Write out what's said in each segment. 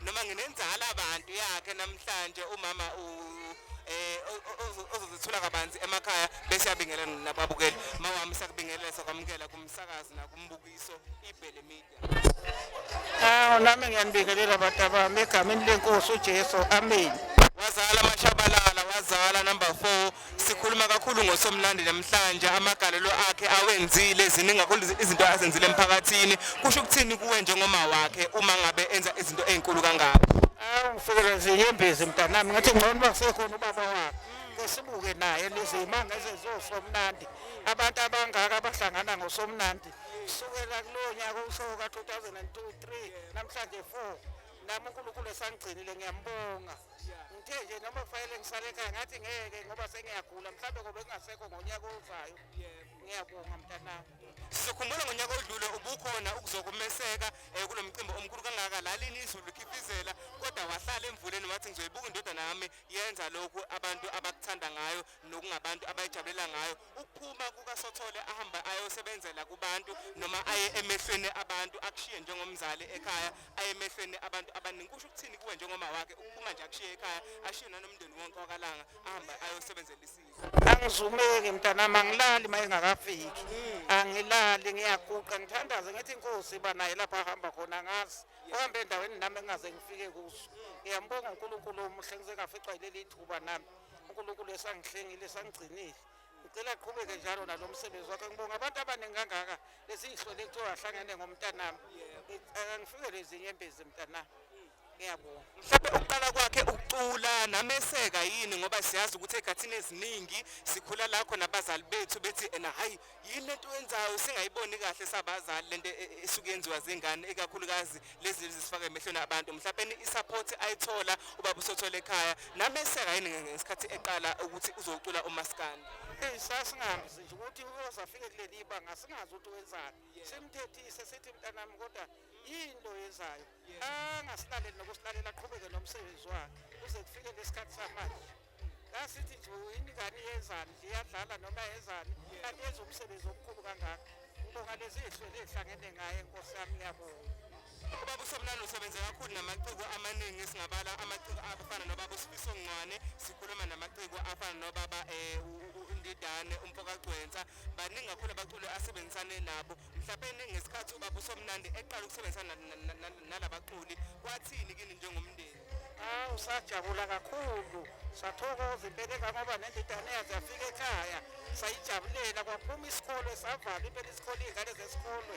noma nginenzala abantu yakhe namhlanje umama u eh ozozithula kabanzi emakhaya bese yabingelela nababukeli mawami sakubingelela sakwamukela kumsakazi nakumbukiso ibhele media Ah nami ngiyanibingelela abantu abami egameni lenkosi uJesu amen wazala amashabalala wazala number 4 sikhuluma kakhulu ngosomlandi namhlanje amagalelo akhe awenzile ziningi kakhulu izinto azenzile emphakathini kusho ukuthini kuwe njengoma wakhe uma ngabe enza izinto ezinkulu kangaka awufikele nje yembezi mntanami ngathi ngcono uba sekhona ubaba wakhe kesibuke naye lezimanga ezezosomnandi abantu abangaka abahlangana ngosomnandi kusukela kulowo nyaka ushoko ka-2002 3 namhlanje 4 nami unkulunkulu esangigcinile ngiyambonga ngithe nje noma kufanele ngisale ekhaya ngathi ngeke ngoba sengiyagula mhlawumbe ngoba kungasekho ngonyaka ozayo ngiyabonga mntanami sizokhumbula ngonyaka odlule ubukhona ukuzokumeseka um kulo mcimbi omkhulu kangaka lalini izulu likhifizela kodwa wahlala emvuleni wathi ngizoyibuka indodana yami yenza lokhu abantu abakuthanda ngayo nokungabantu abayijabulela ngayo ukuphuma kukasothole ahambe ayosebenzela kubantu noma aye emehlweni abantu akushiye njengomzali ekhaya aye emehlweni abantu abaningi kusho ukuthini kuwe njengoma wakhe ukuphuma nje akushiye ekhaya ashiye nanomndeni wonke wakalanga ahambe ayosebenzela isizwe angizumeki mntanami angilali uma engakafiki angilali ngiyaguqa ngithandaze ngithi inkosi iba naye lapho ahamba khona ngazi uhambe endaweni nami engingaze ngifike kuso ngiyambonga unkulunkulu omuhle ngize ngaficwa yileli thuba nami unkulunkulu esangihlengile esangigcinile ngicela aqhubeke njalo nalo msebenzi wakhe ngibonga abantu abaningi kangaka lesiyihlole kuthiwa ahlangene ngomntanami akangifikele izinyembezi mntanami ngiyabonga mhlawumbe ukuqala kwakhe ukucula nameseka yini ngoba siyazi ukuthi ey'khathini eziningi sikhula lakho nabazali bethu bethi ena hhayi yini lento oyenzayo singayiboni kahle sabazali lento e, e, esuke yenziwa zingane ikakhulukazi lezi zisifaka emehlweni abantu mhlawumbe i-support ayithola ubaba usothola ekhaya nami eseka yini ngesikhathi eqala ukuthi uzocula umaskandi eyi sasingazi nje ukuthi uyoze afike kuleli ibanga singazi ukuthi wenzani simthethise sithi mntanami kodwa yini lo yenzayo angasilaleli nokusilalela aqhubeke nomsebenzi wakhe kuze kufike lesikhathi samanje asithi nje yini ingane yezani iyadlala noma yezani kanti yenza umsebenzi omkhulu kangaka ngibonga lezi hlwele ehlangene ngaye nkosi yami ngiyabonga ubaba usobulala usebenze kakhulu namaciko amaningi singabala amaciko afana nobaba usifiso ngcwane sikhuluma namaciko afana nobaba um indidane umfokagcwensa baningi kakhulu abaculi asebenzisane nabo mhlawumbe ngesikhathi ubaba usomnandi eqala ukusebenzisana nalabaculi kwathini kini njengomndeni Awu sajabula kakhulu sathokoza impela kangoba nendidane yaze yafika ekhaya sayijabulela kwaphuma isikole savala impela isikole iy'ngane zesikole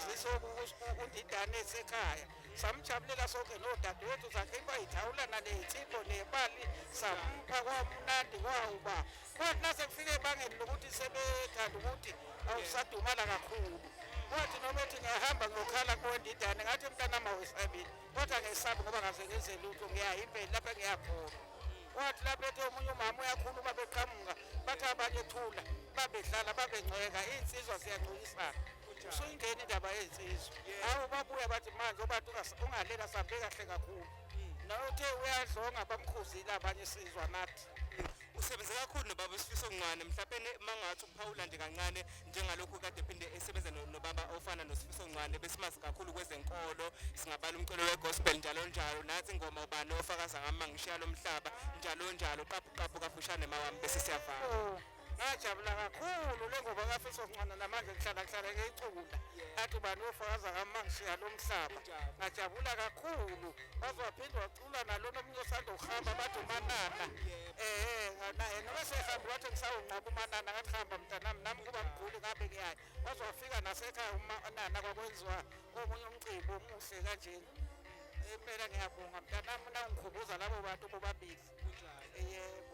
zisokundidane esekhaya samjabulela sonke nodadewethu zakhe ibayithawula naneyithimbo nebali sampha kwamnandi kwawuba kwathi nasekufika ebangeni lokuthi sebethanda ukuthi awusadumala kakhulu kwathi noma ethi ngiyahamba ngiyokhala kowendidane ngathi mntanami awesabile kodwa ngesabi ngoba ngaze ngenze lutho ngiya impeli lapha ngiyakhona wathi lapha ethi omunye umama uyakhuluma beqhamuka bathi abanye thula babedlala babengcweka iy'nsizwa ziyangcuyisana usuyingena indaba yey'nsizwa hawu babuya bathi manje obantu ungaleli asambe kahle kakhulu mm. nawe uthe uyadlonga bamkhuzile abanye isizwa nathi usebenze kakhulu nobaba isifiso ncane mhlawumbe mangathi ukuphawula nje kancane njengalokhu kade phinde esebenza nobaba ofana nosifiso ncwane besimazi kakhulu kwezenkolo singabala umculo wegospel njalo njalo nathi ingoma ubani ofakaza ngama ngishiya lo mhlaba njalo njalo qaphu qaphu kafushane mawami bese siyavana oh, ngajabula kakhulu le ngoba kafiso ncwana namanje ngihlala ngihlala ngeyicula athi ubani ofakaza ngama ngishiya lo mhlaba ngajabula kakhulu waze waphinde Ula nalona omunye osanda ukuhamba bathi umanana ehe naye noma sehambe wathi ngisawunqoba umanana ngathi hamba mntanami nami ngiba mguli ngabe ngiyayo waze wafika nasekhaya umanana kwakwenziwa omunye umcimbi omuhle kanjena impela ngiyabonga mntanami nangikhumbuza labo bantu bobabili yebo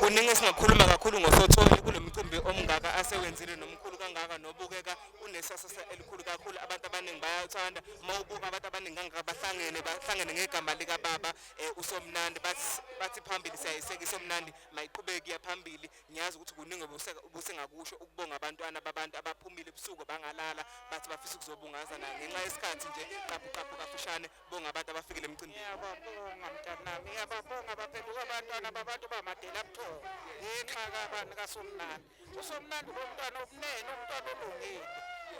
Kuningi esingakhuluma kakhulu ngoSothole kulo mcimbi omngaka asewenzile nomkhulu kangaka nobukeka unesasasa elikhulu kakhulu abantu abaningi bayathanda uma ubuka abantu abaningi kangaka bahlangene bahlangene ngegama likababa eh, uSomnandi bathi phambili siyayiseka iSomnandi mayiqhubeki yaphambili ngiyazi ukuthi kuningi obusengakusho ukubonga abantwana babantu abaphumile ebusuku bangalala bathi bafisa ukuzobungazana ngenxa yesikhathi nje qaphu qaphu kafishane Bonga abantu abafikile emcimbini. Ngiyababonga mntanami, ngiyababonga baphenduka abantwana babantu bamadela buthongo. Ngenxa kabani kaSomnandi. USomnandi bomntwana obunene, umntwana olungile.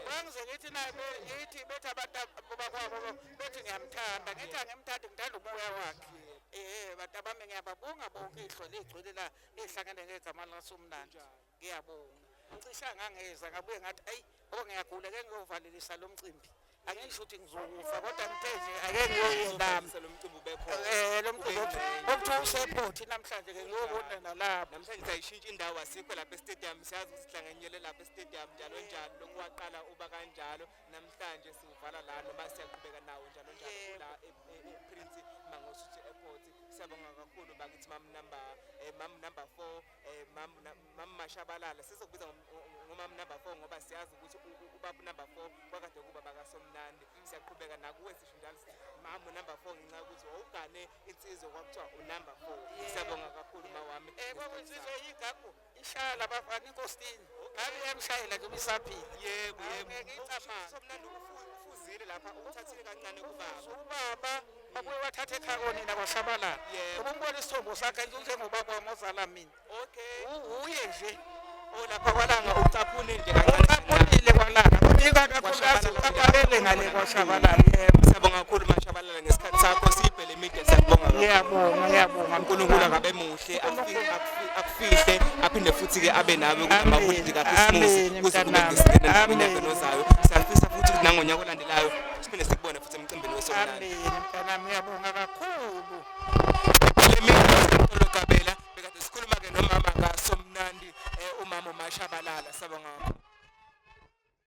Bangize ngithi naye ngithi bethi abantu bakwabo bethi ngiyamthanda. Ngithi angimthandi ngithanda umoya wakhe. Eh, bantu bami ngiyababonga bonke ihlo ligcwele la lihlangene ngegama likaSomnandi. Ngiyabonga. Ngicisha ngangeza ngabuye ngathi ayi ngoba ngiyagula ke ngiyovalelisa lo mcimbi. Angisho ukuthi ngizokufa kodwa ngithe nje ake ngiyoyibamba. Lo mcimbi ubekhona. Eh lo mcimbi okuthiwa usephothi namhlanje ke ngiyobona nalapho. Namhlanje sayishintsha indawo asikho lapha estadium siyazi ukuthi sihlanganyele lapha estadium njalo njalo lokwaqala uba kanjalo namhlanje siwuvala la noma siyaqhubeka nawo njalo njalo la e, e, e, ePrince Mangosuthu Airport. Siyabonga kakhulu bakithi mam number eh, mam number 4 eh mam mashabalala sizokubiza ngomam number 4 ngoba siyazi ukuthi ubaba number 4 kwakade kuba bakasomnandi mm. siyaqhubeka nakuwe sisho njalo sithi mam number 4 ngenxa ukuthi wawugane insizwe kwakuthiwa unumber 4 siyabonga kakhulu mawami eh kwakunsizwe yigagu ishaya labafana inkosini ngabe yamshayela nje ubisaphila yebo yebo ngicabanga somnandi ufuzile lapha uthathile kancane kubaba ubaba Babuye bathatha ekhaya konina kwasabalala. Yebo. Ngoba umbona isithombo sakhe njengobaba wami ozala mina. Okay. U- Uye nje. Olapha kwalanga ucaphune nje kancane. Uqaphulile kwalana. Ubika kakhulukazi uqaphalele ngale kwaShabalala. Yebo. Siyabonga kakhulu mashabalala ngesikhathi sakho siphe le media siyabonga kakhulu. Ngiyabonga, ngiyabonga. uNkulunkulu akabe muhle afi- akufi- akufihle aphinde futhi ke abe nawe Amen. kunamaholidi kaKhisimusi Amen, kuze kube mntanami. ngesikhathi Amen. nonyaka ozayo. Siyafisa futhi ukuthi nangonyaka olandelayo siphinde sikubone futhi emgceni. Amen. Mntanami uyabonga kakhulu. Lemini kabela bekade sikhuluma ke nomama ngaso mnandi eh, umama uMashabalala sabonga.